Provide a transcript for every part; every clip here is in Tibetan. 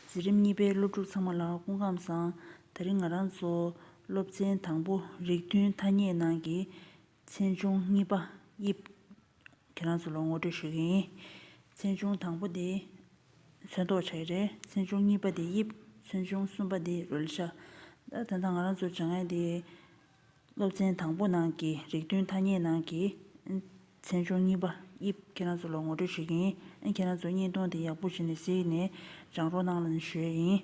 འཛིན་རིམ་གཉིས་པའི་སློབ་ཕྲུག་ཚང་མ་ལ་སྐུ་ཁམས་བཟང། ད་རིང་ང་རང་ཚོ་སློབ་ཚན་དང་པོ་རིགས་མཐུན་ཐ་སྙད་ནང་གི་ཚན་ཆུང་གཉིས་པ་དབྱིབས། ཁྱེད་རང་ཚོ་ལ་ངོ་སྤྲོད་ཞུ་གི་ཡིན། ཚན་ཆུང་དང་པོ་དེ་ཚོན་མདོག་ཆགས་ཡོད་རེད། ཚན་ཆུང་གཉིས་པ་དེ་དབྱིབས། ཚོན་ཆུང་གསུམ་པ་དེ་རོལ་ཆ། ད་ལྟ་ང་རང་ཚོ་བྱ་ངན་དེ་སློབ་ཚན་དང་པོ་ནང་གི་རིགས་མཐུན་ཐ་སྙད་ནང་གི། ཚན་ཆུང་གཉིས་པ་དབྱིབས་ཁྱེད་རང་ཚོ་ལ་ངོ་སྤྲོད་བྱེད་ཀྱི་ཡིན། ཁྱེད་རང་ཚོ་བརྙན་ཐུང་དེ་ཡག་པོ་བྱས་ནས་གཟིགས་ནས་སྦྱང་རོགས་གནང་ལན་ཞུ་ཡ་ཡིན།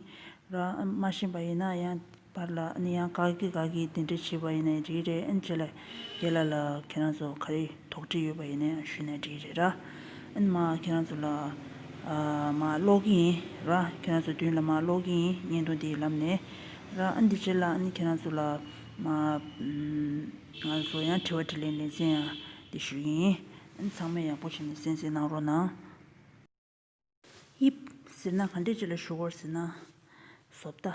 ར་མ་ཤེས་པ་ཡིན་ན་ཡང་བར་ལ་ཡང་ག་གི་ག་གིས་དེ་འདྲས་བྱས་པ་ཡིན་ན་རིགས་རེད་བྱས་ལ་རྒྱལ་ལ་ལ་ཁྱེད་རང་ཚོ་ག་རེ། དོགས་འདྲི་ཡོད་པ་ཡིན་ན་ཡང་ཞུས་ནས་འདྲི་རེད་ར། ཨ་ནི་མ་ཁྱེད་རང་ཚོ་ལ་མ་ཀློག་གི་ཡིན་ར། ཁྱེད་རང་ཚོ་མདུན་ལ་མ་ཀློག་གི་ཡིན་བརྙན་ཐུང་དེའི་ལམ་ནས་ར། ཨ་ནི་དེ་ཕྱིར་ལ་ཨ་ནི་ཁྱེད་རང་ཚོ་ལ་མ་ང་ཚོ་ཡང་དྲི་བ་དྲི་ལན་ལེ་ཚན་ཡང་འདི་ཞུས་གི་ཡིན། ཨ་ནི་ཚང་མས་ཡག་པོ་བྱས་ནས་གསན་གསན་གནང་རོགས་གནང། དབྱིབས། ཟེར་ན་ག་འདྲས་ཅིག་ལ་ཞུ་གོ་ཟེར་ན། བཟོ་ལྟ།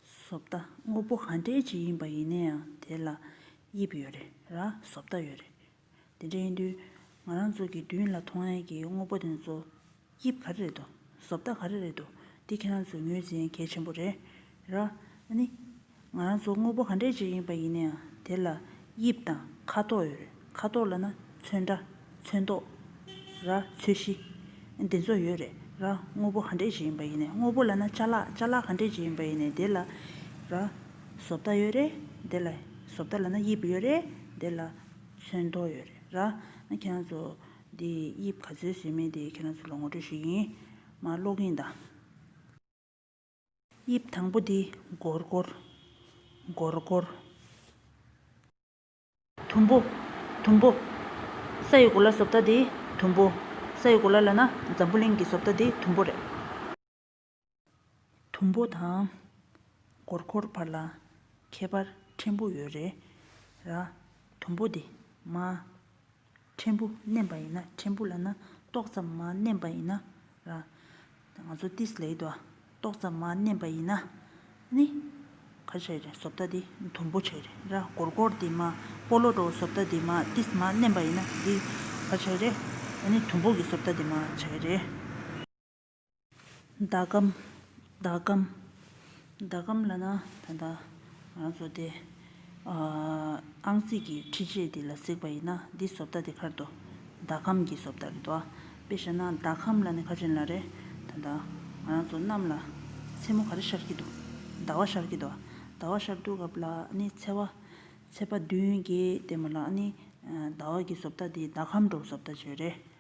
བཟོ་ལྟ་དངོས་པོ་ག་འདྲས་ཅིག་ཡིན་པ་ཡིན་ན་ཡང་དེ་ལ་དབྱིབས་ཡོད་རེད་ར་བཟོ་ལྟ་ཡོད་རེད། དེ་འདྲ་ཡིན་དུས་ང་རང་ཚོ་གི་མདུན་ལ་མཐོང་ཡན་གྱི་དངོས་པོ་དེ་ཚོ་དབྱིབས་ག་རེ་རེད་དོ་བཟོ་ལྟ་ག་རེ་རེད་དོ་དེ་ཁྱེད་རང་ཚོས་ངོས་འཛིན་གལ་ཆེན་པོ་རེད། ར། ནི། ང་རང་ཚོ་དངོས་པོ་ག་འདྲའི་ཅིག་ཡིན་པ་ཡིན་ན་ཡང་དེ་ལ་དབྱིབས་དང་ཁ་དོག་ཡོད་རེད་ཁ་དོག་ལ་ན་ཚོན་འདྲ། ཚོན་མདོག། ར། ཚོས་གཞི། འདི་ཚོ་ཡོད་རེད་ར། དངོས་པོ་ག་འདྲའི་ཅིག་ཡིན་པ་ཡིན་ན་དངོས་པོ་ལ་ན་ཆ་ལག་ཆ་ལག་ག་འདྲའི་ཅིག་ཡིན་པ་ཡིན་ན་དེ་ལ། ར། བཟོ་ལྟ་ཡོད་རེད་དེ་ལ། བཟོ་ལྟ་ལ་ན་དབྱིབས་ཡོད་རེད་དེ་ལ། ཚོན་མདོག་ཡོད་རེད་ར། ཁྱེད་རང་ཚོ། འདི་དབྱིབས་ག་ཚོད་བཟོས་མིན་དེ་ཁྱེད་རང་ཚོ་ལ་ངོ་སྤྲོད་ཞིག་ཡིན། མ་ཀློག་གིན་གདའ། དབྱིབས་དང་པོ་འདི་སྒོར་སྒོར། སྒོར་སྒོར། དུམ་བུ། དུམ་བུ། ས་ཡི་གོ་ལ་བཟོ་ལྟ་འདི་དུམ་བུ། ས་ཡི་གོ་ལ་ལ་ན་འཛམ་བུ་གླིང་གི་བཟོ་ལྟ་འདི་དུམ་བུ་རེད། དུམ་བུ་དང། སྒོར་སྒོར་བར་ལ་ཁྱད་པར་ཕྲན་བུ་ཡོད་རེད། ར། དུམ་བུ་འདི་མ། ཕྲན་བུ་བསྣན་པ་ཡིན་ན་ཕྲན་བུ་ལ་ན་ཏོག་ཙམ་མ་བསྣན་པ་ཡིན་ན་ར། ང་ཚོ་ཏིས་ལེའི་དོ་ཏོག་ཙམ་མ་བསྣན་པ་ཡིན་ན་ནི། ག་ཤ་རེ་ཟོབ་ཏ་དེ་དུམ་བུ་ཆེ་རེ་ར་གོར་གོར་དེ་མ་སྤོ་ལོ་རོ་ཟོབ་ཏ་དེ་མ་ཏིས་མ་བསྣན་པ་ཡིན་ན་དེ་ག་ཤ་རེ་ནི་དུམ་བུ་གི་ཟོབ་ཏ་དེ་མ་ཆ་གི་རེ། ཟླ་གམ། ཟླ་གམ། ཟླ་གམ་ལ་ན་ད་ལྟ་ང་ཚོ་དེ་ཨང་རྩིས་ཀྱི་འཕྲི་ཆས་དེ་ལ་གཟིགས་པ་ཡིན་ན་འདི་བཟོ་ལྟ་དེ་ཁར་དོ་ཟླ་གམ་གྱི་བཟོ་ལྟ་རེད་དོ། དཔེ་བཞག་ན་ཟླ་གམ་ལ་ནི་ཁ་ཆེན་ལ་རེ་ད་ལྟ་ང་རང་ཚོ་གནམ་ལ་མཚན་མོ་ག་རེ་ཤར་གྱི་འདུག་ཟླ་བ་ཤར་གྱི་འདུག་ཟླ་བ་ཤར་འདུག་སྐབས་ལ་ནི་ཚེ་བ། ཚེ་བ་བདུན་བརྒྱད་བསྟན་པ་ལ་ནི་ཟླ་བ་གྱི་བཟོ་ལྟ་དེ་ཟླ་གམ་འགྲོ་བཟོ་ལྟ་བྱོས་རེད།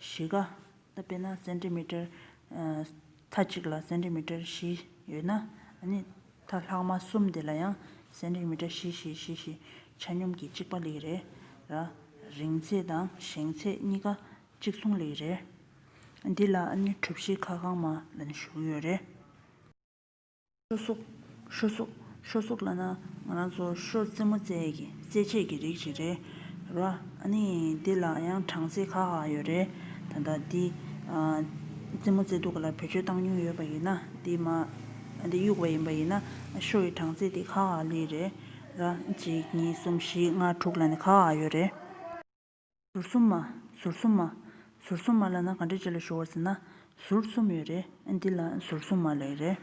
བཞི་ཀ། དཔེར་ན་སེན་ཏི་མི་ཏར། མཐའ་གཅིག་ལ་སེན་ཏི་མི་ཏར་བཞི་ཡོད་ན། མཐའ་ལྷག་མ་གསུམ་དེ་ལ་ཡང་སེན་ཏི་མི་ཏར་བཞི་བཞི་བཞི་བཞི་ཆ་སྙོམས་ཀྱིས་གཅིག་པ་ལིག་རེ། རིང་ཚད་དང་བཞེངས་ཚད་གཉིས་ཀ་གཅིག་མཚུངས་ལིག་རེ། འདི་ལ་གྲུ་བཞི་ཁ་གང་མ་ལ་ཞུགས་ཡོད་རེད། ཤོ་སོག། ཤོ་སོག། ཤོ་སོག་ལ་ནི་ང་རང་ཚོ་ཤོ་རྩེད་མོ་རྩེད་ཀྱི་རྩེད་ཆས་ཀྱི་རིགས་ཤིག་རེད། རོ། ཨ་ནི་འདི་ལ་ཡང་གྲངས་ཚད་ཁག་ཁག་ཡོད་རེད། ད་ལྟ་འདི། རྩེད་མོ་རྩེ་འདུག་ག་ལ་བེད་སྤྱོད་བཏང་མྱོང་ཡོད་པ་ཡིན་ན་འདི་མ། འདི་གཡུགས་པ་ཡིན་པ་ཡིན་ན་ཤོ་ཡི་གྲངས་ཚད་དེ་ཁག་ཁག་ལོས་རེད། རོ། གཅིག་གཉིས་གསུམ་བཞི་ལྔ་དྲུག་ལ་ནི་ཁག་ཁག་ཡོད་རེད། ཟུར་གསུམ་མ། ཟུར་གསུམ་མ། ཟུར་གསུམ་མ་ལ་ན་ག་འདྲེ་ཅི་ལ་ཞུ་བར་ཟེར་ན། ཟུར་གསུམ་ཡོད་རེད་ཨེ་འདི་ལ་ཟུར་གསུམ་མ་ལེགས་རེད།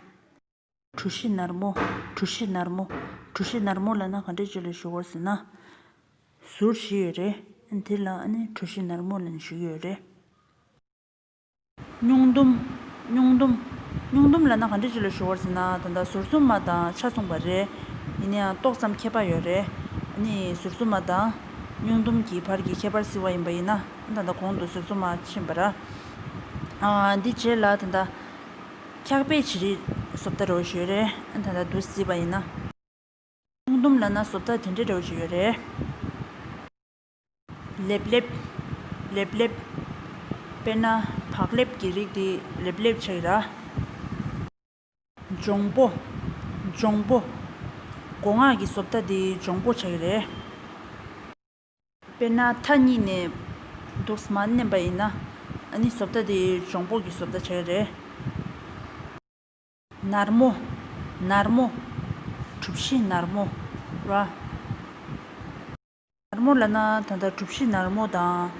གྲུ་བཞི་ནར་མོ། གྲུ་བཞི་ནར་མོ། གྲུ་བཞི་ནར་མོ་ལ་ན་ག་འདྲེ་ཅི་ལ་ཞུ་བར་ཟེར་ན། ཟུར་བཞི་ཡོད་རེད་ཨེ་འདི་ལ་ཨ་ནི་གྲུ་བཞི་ནར་མོ་ལ་ན་ཞུ་གི་ཡོད་རེད། སྙུང་སྡོམ། སྙུང་སྡོམ། སྙུང་སྡོམ་ལ་ན་ག་འདྲི་གཅོད་ལ་ཞུ་བར་ཟེར་ན་ད་ལྟ་ཟུར་གསུམ་མ་དང་ཆ་མཚུངས་པ་རེད། ཡིན་ན་ཡང་ཏོག་ཙམ་ཁྱད་པར་ཡོད་རེད། ནི་ཟུར་གསུམ་མ་དང། སྙུང་སྡོམ་གྱི་བར་གྱི་ཁྱད་པར་ཟེར་བ་ཡིན་པ་ཡིན་ན་ད་ལྟ་གོང་དུ་ཟུར་གསུམ་མ་ཕྱིན་པ་ར། འདི་བརྗེད་ལ་ད་ལྟ། འཁྱག་པའི་བྱི་རིལ་སོ་བརྡ་རོ་ཞུ་རེད། ད་ལྟ་བསྡུ་སྲིད་པ་ཡིན་ན། སྙུང་སྡོམ་ལ་ན་སོ་བརྡ་དེ་འདྲའི་རོ་ཞུ་ཡོད་རེད། ལེབ་ལེབ། ལེབ་ལེབ། དཔེར་ན་བག་ལེབ་ཀྱི་རིགས་དེ་ལེབ་ལེབ་བྱ་ཡི་ར། འབྱུང་པོ། འབྱུང་པོ། སྒོ་ངག་གི་བཟོ་ལྟ་དེ་འབྱུང་པོ་བྱ་ཡི་རེད། དཔེར་ན་མཐའ་གཉིས་ནས་འདུག་སྨ་མནན་པ་ཡིན་ན་ཨ་ནི་བཟོ་ལྟ་དེ་འབྱུང་པོ་གི་བཟོ་ལྟ་བྱ་ཡི་རེད། ནར་མོ། ནར་མོ། གྲུ་བཞི་ནར་མོ་ར། ནར་མོ་ལ་ན་ད་ལྟ་གྲུབ་གཞི་ནར་མོ་དང་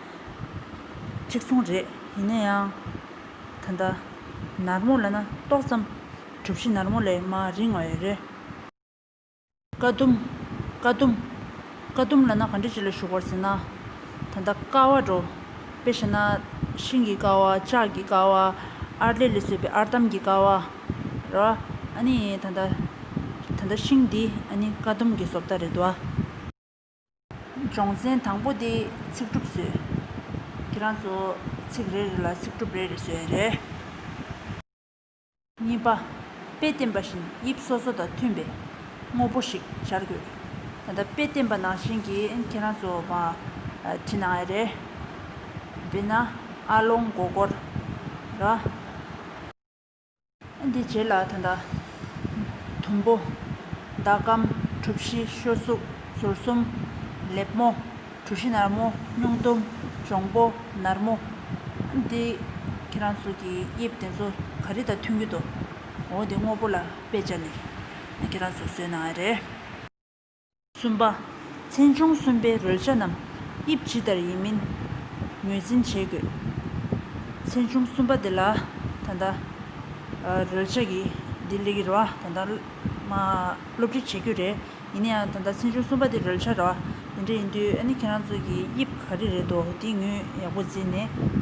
གཅིག་མཚུངས་རེད། ཡིན་ན་ཡང། ད་ལྟ་ནར་མོ་ལ་ན་ཏོག་ཙམ་གྲུབ་གཞི་ནར་མོ་ལས་མ་རིང་བ་ཡོད་རེད། ཀ་ཟླུམ། ཀ་ཟླུམ། ཀ་ཟླུམ་ལ་ན་ག་འདྲི་ཅི་ལ་ཞུགས་པར་ཟེར་ན། ད་ལྟ་ཀ་བ་འགྲོ། དཔེ་བྱས་ན། ཤིང་གི་ཀ་བ། ལྕགས་ཀྱི་ཀ་བ། ཨར་ལས་ལས་བཟོས་པའི་ཨར་འདམ་གྱི་ཀ་བ། ར། ཨ་ནི་ད་ལྟ། ད་ལྟ་ཤིང་འདི་ཨ་ནི་ཀ་ཟླུམ་གྱི་སོབ་ད་རེད་བ། སྦྱོང་ཚན་དང་པོ་དེ་ཚིག་གྲུབ་བཟོས། ཁྱེད་རང་ཚོ་ཚིག་རེ་རེ་ལ་ཚིག་གྲུབ་རེ་རེ་བཟོས་ཡོད་རེད། གཉིས་པ། དཔེ་བསྟན་པ་བཞིན་དབྱིབས་སོ་སོ་དང་མཐུན་པའི་དངོས་པོ་ཞིག་སྦྱར་དགོས། ད་ལྟ་དཔེ་བསྟན་པ་ནང་བཞིན་གྱིས་ཁྱེད་རང་ཚོ་བ། བྲིས་གནང་ཡོད་རེད། དཔེར་ན། ཨ་ལོང་མགོ་སྐོར། ར། དེའི་རྗེས་ལ་ད་ལྟ། དུམ་བུ། ཟླ་གམ། གྲུ་བཞི། ཤོ་གཟུགས། ཟུར་གསུམ། ལེབ་མོ། གྲུ་བཞི་ནར་མོ། སྙུང་གཏུམ། འབྱུང་པོ། ནར་མོ། འདི། ཁྱེད་རང་ཚོ་གི་དབྱིབས་དེ་ཚོ་ག་རེ་དང་མཐུན་གྱི་འདུག། འོ་དེ་དངོས་པོ་ལ་དཔེ་བྱས་ནས་ཁྱེད་རང་ཚོ་བཟོས་གནང་ཡ་རེད། གསུམ་པ། ཚན་ཆུང་གསུམ་པའི་རོལ་ཆ་རྣམས་དབྱིབས་ཇི་ལྟར་ཡིན་མིན་ངོས་འཛིན་བྱེད་དགོས། ཚན་ཆུང་གསུམ་པ་དེ་ལ་ད་ལྟ་རོལ་ཆ་གི་ལྡི་ལིའི་ར་བ་ད་ལྟ་སློབ་ཁྲིད་བྱེད་རྒྱུ་རེད། ཡིན་ན་ཡང་ད་ལྟ་ཚན་ཆུང་གསུམ་པ་དེ་རོལ་ཆ་ར་བ་དེ་འདྲ་ཡིན་དུས་ཨ་ནི་ཁྱེད་རང་ཚོ་གིས་དབྱིབས་ག་རེ་རེད་དོ་དེ་ངོས་ཡག་པོ་འཛིན་ནས།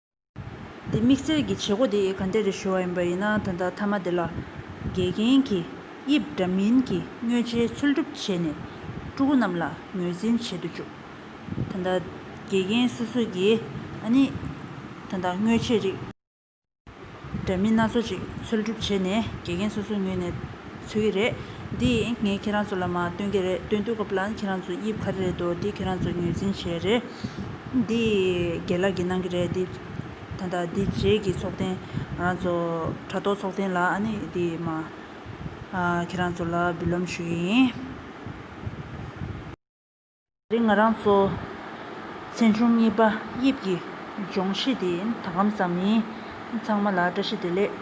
དེ་དམིགས་བསལ་གྱི་བྱེད་སྒོ་དེ་ག་འདི་རུ་ཞུ་བ་ཡིན་པ་ཡིན་ན་ད་ལྟ་མཐའ་མ་དེ་ལ། དགེ་རྒན་གྱིས་དབྱིབས་འདྲ་མིན་གྱི་དངོས་ཇའི་ཚུལ་སྒྲུབ་བྱས་ནས་ཕྲུ་གུ་རྣམས་ལ་ངོས་འཛིན་བྱེད་དུ་བཅུག་ད་ལྟ། དགེ་རྒན་སོ་སོ་ཡིས་ཨ་ནི། ད་ལྟ་དངོས་ཇའི་རིགས། འདྲ་མིན་སྣ་ཚོགས་ཅིག་འཚོལ་སྒྲུབ་བྱས་ནས་དགེ་རྒན་སོ་སོའི་ངོས་ནས་འཚོལ་གྱི་རེད། འདི་ངས་ཁྱེད་རང་ཚོ་ལ་མ་སྟོན་གྱི་རེད་སྟོན་དུས་སྐབས་ལ་ཁྱེད་རང་ཚོ་དབྱིབས་ག་རེ་རེད་དོ་འདི་ཁྱེད་རང་ཚོ་ངོས་འཛིན་བྱས་རེད། འདི་དགེ་ལགས་ཀྱིས་གནང་གི་རེད་འདི། ད་ལྟ་འདི་རྗེས་ཀྱི་ཚོགས་ཐེངས་ང་རང་ཚོ་དྲ་ཐོག་ཚོགས་ཐེངས་ལ་ཨ་ནི་འདི་མ། ཁྱེད་རང་ཚོ་ལ་འབུལ་ལམ་ཞུ་ཡི་ཡིན། རེད་ང་རང་ཚོ་ཚན་ཆུང་གཉིས་པ་དབྱིབས་ཀྱི་སྦྱོང་གཞི་དེ་ཡིན་ད་གམ་ཟ་མིན་ཚང་མ་ལ་བཀྲ་ཤིས་བདེ་ལེགས།